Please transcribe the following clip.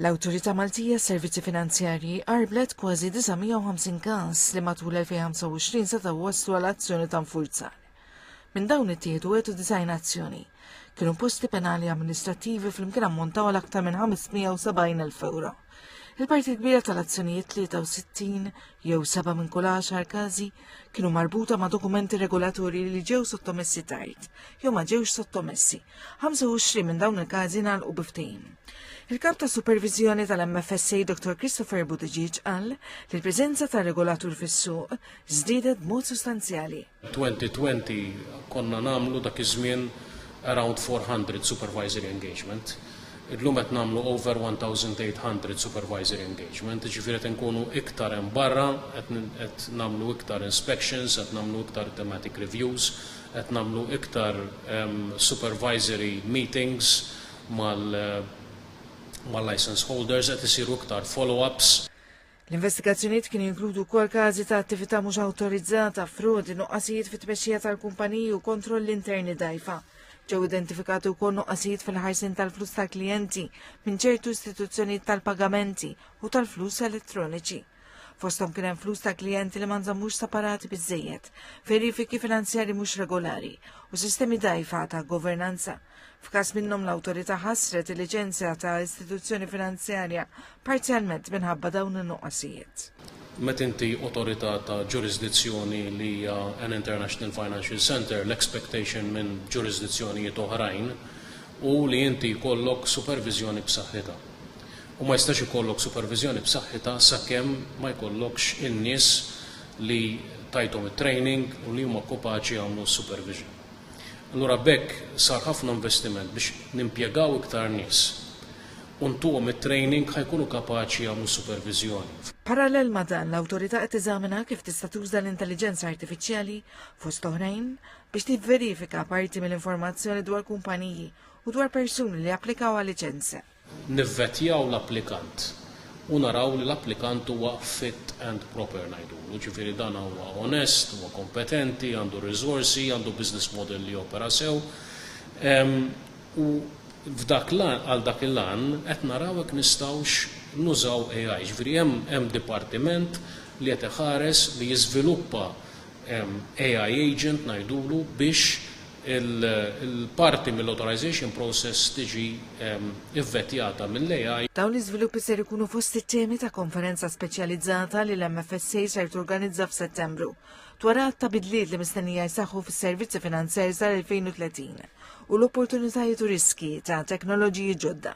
L-Awtorità Maltija għas-Servizzi Finanzjarji qarblet kważi 950 każ li matul 2025 setgħu waslu għal azzjoni ta' nfurzar. Minn dawn ittieħdu għetu design azzjoni. Kienu posti penali amministrattivi fl-imkien ammontaw għal aktar minn 570.000 euro. Il-parti kbira tal-azzjonijiet 63 jew 7 minn kull 10 każi kienu marbuta ma' dokumenti regolatorji li ġew sottomessi tard jew ma ġewx sottomessi 25 minn dawn il-każi nagħlqu biftejn. Il-kap ta' supervizjoni tal-MFSA Dr. Christopher Buttigieg qal li l-preżenza ta' regolatur fis-suq żdiedet b'mod sostanzjali. 2020 konna nagħmlu dak iż-żmien around 400 supervisory engagement. Illum qed nagħmlu over 1800 supervisory engagement, ġifieri qed inkunu iktar hemm barra, qed nagħmlu iktar inspections, qed nagħmlu iktar thematic reviews, Qed nagħmlu iktar supervisory meetings mal-licence holders, qed isiru iktar follow-ups. L-investigazzjonijiet kienu jinkludu wkoll każi ta' attività mhux awtorizzata, frodi, nuqqasijiet fit-tmexxija tal-kumpaniji u kontrolli interni dgħajfa. Ġew identifikati wkoll nuqqasijiet fil-ħarsien tal-flus tal-klijenti minn ċertu istituzzjonijiet tal-pagamenti u tal-flus elettroniċi. Fosthom kien hemm flus ta' klijenti li ma nżammux separati biżejjed, verifiki finanzjari mhux regolari u sistemi dajfa ta' governanza. F'każ minnhom l-awtorità ħassret il-liċenzja ta' istituzzjoni finanzjarja parzjalment minħabba dawn in-nuqqasijiet. Meta inti awtorità ta' ġurisdizzjoni li hija an international financial centre, l-expectation minn ġurisdizzjonijiet oħrajn hu li inti jkollok superviżjoni b'saħħitha. u ma jistax ikollok superviżjoni b'saħħitha sakemm ma jkollokx in-nies li tajthom it-training u li huma kopaċi jagħmlu s-supervision. Allura b'hekk sar ħafna investiment biex nimpjegaw iktar nies u ntuhom it-training ħa jkunu kapaċi jagħmlu s-superviżjoni. Parallel ma' dan, l-Awtorità qed teżamina kif tista' tuża l-intelliġenza artifiċjali, fost oħrajn, biex tivverifika parti mill-informazzjoni dwar kumpaniji u dwar persuni li applikaw għal liċenzja. Nivvetjaw l-applikant u naraw li l-applikant huwa fit and proper ngħidulu, ġifieri dan huwa onest, huwa kompetenti, għandu r-riżorsi, għandu business model li jopera sew. U f'dak l-għan, għal dak il-għan, qed naraw jekk nistgħux nużaw AI. Ġifieri hemm hemm dipartiment li qed iħares li jiżviluppa AI agent ngħidulu biex il-parti mill-authorization process tiġi vvettjata mill-AI. Dawn l-iżviluppi ser ikunu fost it-temi ta' konferenza speċjalizzata li l-MFSA ser torganizza f'Settembru dwar għadd ta' bidliet li mistennija jseħħu fis-servizzi finanzjarji sal-2030 u l-opportunitajiet u riskji ta' teknoloġiji ġodda.